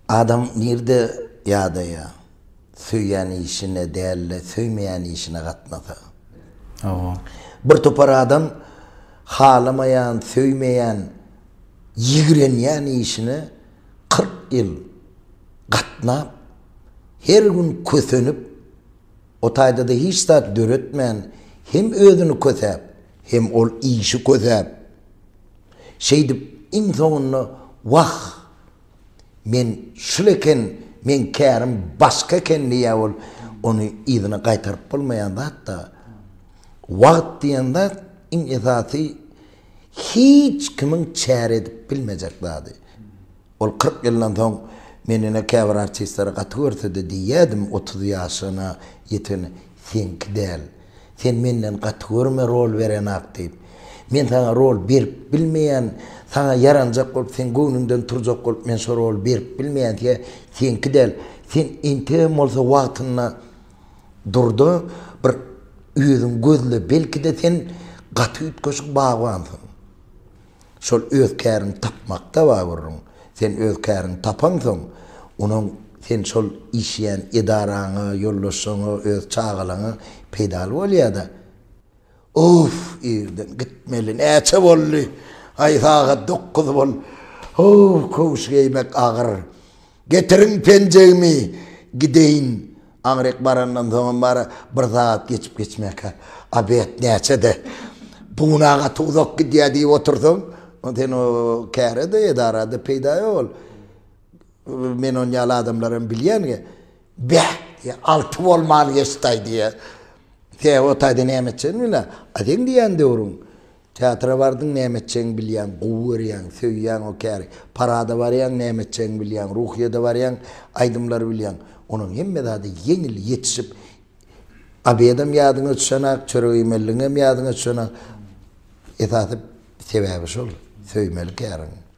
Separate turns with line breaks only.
Adam nirde ýadaýa? Söýýän işine däl-de söýmeýän işine gatnasa. Hawa. Bir topar adam halamaýan, söýmeýän, ýigrenýän işine kyrk ýyl gatnap, her gün kösenip, O taýda-da hiç zat döretmän, hem özüni kösäp, hem ol işi kösäp, şeýdip, iň soňunda, Wah, men şul eken, meň kärim başga eken diýýär ol. Ony yzyna gaýtaryp bolmaýan zat-da. Wagt diýen zat, iň esasy, hiç kimiň çäre edip bilmejek zady. Ol kyrk ýyldan soň Men ine käbir artistleri gaty görsede diýýädim otuz ýaşyna ýetene Seňki däl. Sen menden gaty görme rol berenok diýip. Men saňa rol berip bilmeýän saňa ýaranjak bolup seň göwnüňden turjak bolup men şo roly berip bilmeýän siňe seňki däl. Sen entegem bolsa wagtynda durda bir özüň gözle belkide sen gaty üýtgeşik bagbansyň. Şol öz käriňi tapmakda bar gürrüň. Sen öz käriňi tapaňsoň, onuň sen şol işleýän edaraňa, ýoldaşlaryňa, öz çagalaňa peýdaly bolýar-da. Of, irden gitmeli, näçe boldy? Aý, sagat dokuz bol. Ho, köwüş geýmek agyr. Getiriň penjegimi, gideýin. Aňryk barandan soňam bary bir sagat geçip-geçmäkä, obed näçe-de, bu gün a gaty uzak gidýär diýip otursaň, sen o käre-de, edara-da peýda ýok ol. Men ony ýaly adamlaram bilýän. Beh! diýýär. Alty bolman geçdi-aý diýýär. Sen o taýda näme etjegini bilýäň. A seň diýýän döwrüň. Teatra bardyň näme etjegiňi bilýäň, gowy görýäň, söýýäň o käri. Parada barýaň näme etjegiňi bilýäň, ruhyýede barýaň aýdymlary bilýäň. Onuň hemme zady ýeňil, ýetişip obedem ýadyňa düşenak, çörek iýmeligiňem ýadyňa düşenak. Esasy sebäbi şol, söýmeli käriňi.